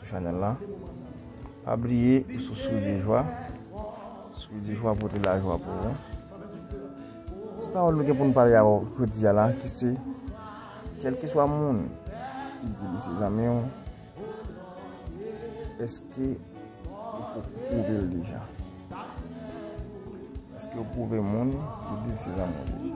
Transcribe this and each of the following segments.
Sou chanel la. Pa bliye ou sou Source de Joie. Source de Joie pote la jwa pou ou. Ti pawòl nou gen pou nou pale avèk ou jodi a la ki se kelkeswa moun ki di li se zanmi ou eske ou pwouve l deja? Eske ou pwouve moun ki di l se zanmi ou deja?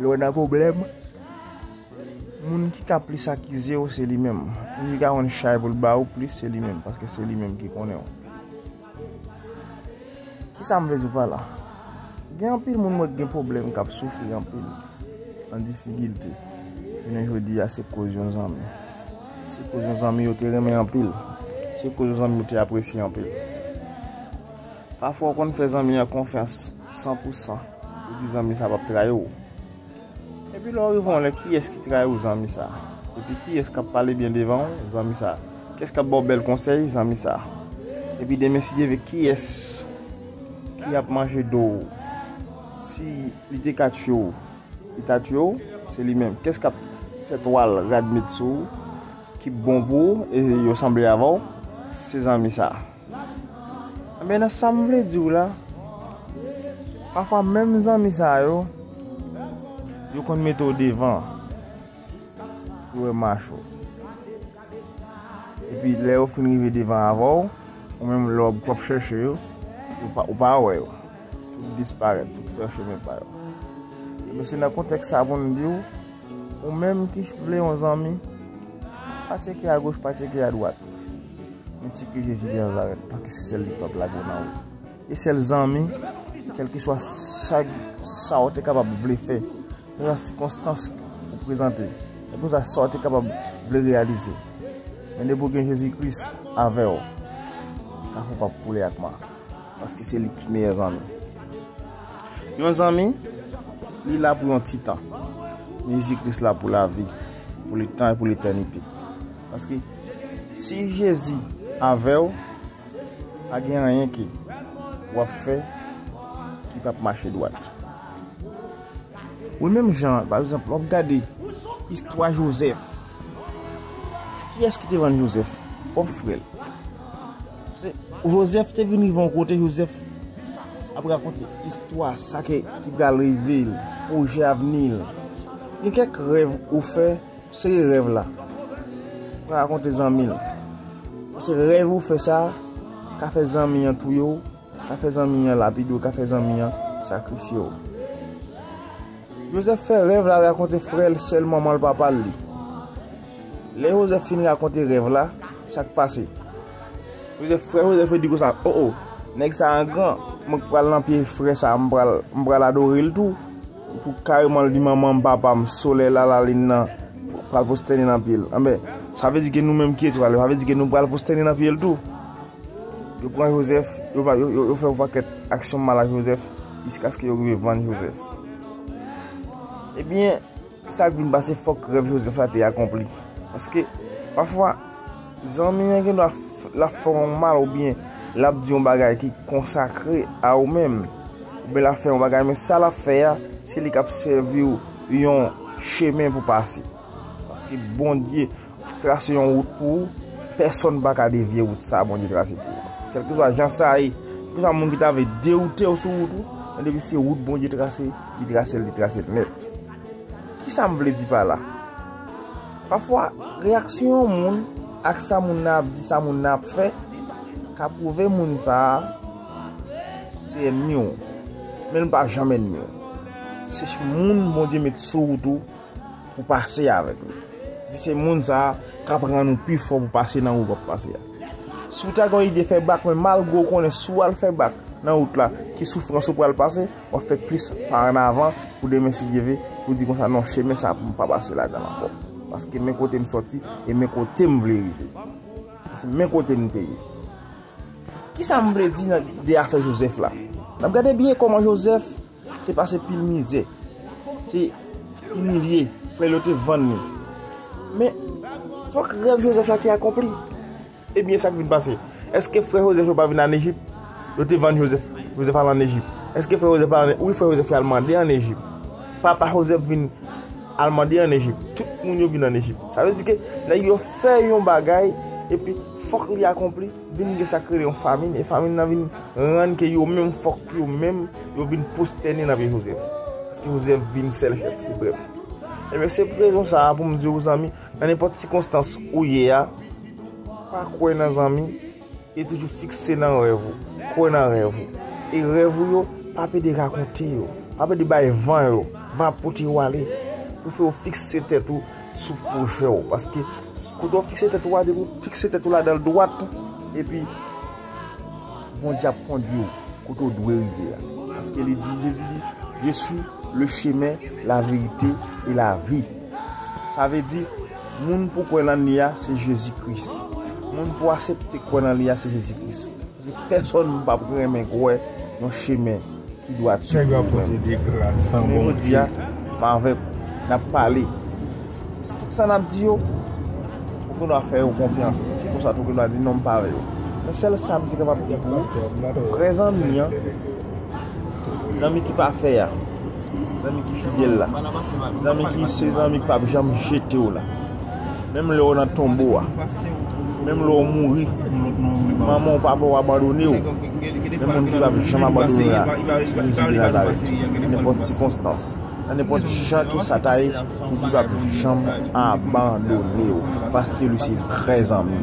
Lè w nan pwoblèm, moun ki ka plis akize w se li menm. Moun ki ka konn chay pou l ba ou plis se li menm, paske se li menm ki konnen w. Ki sa m vle di w pa la? Gen anpil moun mwen gen pwoblèm k ap soufri anpil, an difikilte. Jounen jodi a se koz yon zanmi. Se koz yon zanmi yo te renmen anpil. Se koz yon zanmi yo te apresye anpil. Pafwa w konn fè zanmi an konfyans. San pou san. Ou di zanmi sa pap trayi w. Epi lè w rive yon lè kiyès ki trayi w zanmi sa? Epi kiyès kap pale byen devan w zanmi sa? Kiyès kap ba w bèl konsèy zanmi sa? Epi demen si Dye ve kiyès ki ap manje do w? Si li te ka tiye w li ta tiye w? Se li menm. Kiyès kap fè twal rad met sou w ki bon pou w e yo sanble avè w? Se zanmi sa. Ebyen nan sam vle diw la, pafwa menm zanmi sa yo, yo konn mete w devan pou yo mach ou. Epi lè yo fin rive devan avè w, ou menm lè w ap chèche yo, ou pa wè yo. Tout disparèt, tout fè chemen pa yo. Ebyen se nan kontèks sa pou m diw, ou menm ki vle yon zanmi, pa tyeke a goch, pa tyeke a dwat. Yon ti ke Jezi de Nazarèt pa ki se sèl li pap lage w nan wout. E sèl zanmi, kèlke swa chag sa w te kapab vle fè, kèlke swa sikonstans ou prezante, kèlke swa sa w te kapab vle reyalize. Men depi w gen Jezi Kris avè w, kafou pap koule ak ma. Paske se li ki meyè zanmi. Yon zanmi, li la pou yon ti tan. Jezi Kris la pou lavi, pou letan e pou letènite. Paske. Si jezi avèw pa gen anyen ke wap fè ki pap mache dwat. Wi menm jan pa egzanp wap gade istwa jozèf kiyès ki te vann jozèf pwòp frèl. Jozèf te vin rive yon kote jozèf ap rakonte istwa sa ki pral rive l pwojè avni l gen kèk rèv ou fè Sere rèv la. Pran rakonte zanmi l. Pase rèv ou fè sa, ka fè zanmi an touye w, ka fè zanmi an lapide w, ka fè zanmi an sakrifye w. Joseph fè rèv la rakonte frè l, sè l, manman l, papa l li. Lè Joseph fin rakonte rèv la, sa k pase? Joseph, frè Joseph yo di konsa, O, o, nèg sa an gran, mwen k pral nan pye frè sa a, m pral adore l tou. Pou kareman l di manman m, papa m, solèy, lalalin nan pral pwostène nan pye l. Anben, sa vle di ke nou menm ki etwal yo, sa vle di ke nou pral pwostène nan pye l tou. Yo pran Jozèf, yo fè yon pakèt aksyon mal ak Jozèf, jiskaske yo rive vann Jozèf. Ebyen, sa k vin pase fòk rèv Jozèf la te akonpli. Paske, pafwa, Zanmi an gen dwa lap fè w mal oubyen lap di yon bagay ki konsakre a ou menm. Oubyen lap fè yon bagay men sa lap fè a se li kap sèvi w yon chemen pou pase. Paske Bondye trase yon wout pou ou, pèsòn pa ka devye wout sa Bondye trase pou ou. Kèlkeswa jan sa ye, kèlkeswa moun ki ta vle dewoute w sou wout ou, men depi se wout Bondye trase, li trase l, li trase l nèt. Kisa m vle di pa la? Pafwa, reyaksyon yon moun ak sa moun nan ap di, sa moun nan ap fè, ka pwouve moun sa a se ènmi w. Men l pa janm ènmi w. Se moun Bondye met sou wout ou pou pase avèk li. Epi se moun sa a k ap rann ou pi fò pou pase nan wout w ap pase a. Si w ta gen yon ide fè bak, men malgre w konnen si w al fè bak nan wout la, ki soufrans ou pral pase. wap fè plis pa an avan pou demen si Dye ve pou di konsa non chemen sa pou m pa pase ladan l ankò paske men kote m sòti e men kote m vle rive paske men kote m te ye kisa m vle di nan de afè Joseph la n ap gade byen kòman Joseph te pase pil mizè te imilye frè l yo te vann li men fòk rèv Joseph la te akonpli Ebyen sa k vin pase? Eske frè Jozèf yo pa vin ann Ejip? Yo te vann Jozèf. Jozèf al ann Ejip. Eske frè Jozèf pa ann Ejip? Wi, frè Jozèf yo al mande ann Ejip. Papa Jozèf vin al mande ann Ejip. Tout moun yo vin ann Ejip. Sa vle di ke nèg yo fè yon bagay epi fòk li akonpli, vin gen sa k rele yon famin. E famin nan vin rann ke yo menm fòk yo menm yo vin pwostène nan pye Jozèf. Paske Jozèf vin sèl chèf siprèm. Ebyen se pou rezon sa a pou m di ou zanmi. Nan nenpòt sikonstans ou ye a, pa kwè nan zanmi e toujou fikse nan rèv ou. Kwè nan rèv ou. E rèv ou yo, pa pede rakonte yo. Pa pede bay van yo. Van ap pote yo ale. Pou fè ou fikse tèt ou sou pwojè ou. Paske, kote ou fikse tèt ou a, depi ou fikse tèt ou la dan l dwat, epi, Bondye ap kondwi ou kote ou dwe rive a. Paske li di, Jezi di, Je swi le chemen, la verite e la vi. Sa vle di, moun pou kwè lan li a, se Jezi Kris. Moun pou asepte kwè lan li a, se Jezi Kris. Paske pèsòn pa p renmen kwè yon chemen ki dwat si pou nou menm. Jounen jodi a, m avèk ou, n ap pale. E si tout sa n ap di yo, ou gen dwa fè yo konfyans. Si konsa tou ou gen dwa di non m pa vle yo. Men sèl sa m te kapab di pou ou, pou vrè zanmi an. Zanmi ki pa fè a. Zanmi ki fidèl la. Zanmi ki se zanmi ki pap janm jete w la. Menm lè w nan tonbo a. Menm lè w mouri. Manman w papa w abandone w. Gen moun ki pap janm abandone w la. Se Jezi de Nazarèt. Nan nenpòt sikonstans. Nan nenpòt jan ke sa ta ye. Jezi pap janm abandone w. Paske li se vrè zanmi.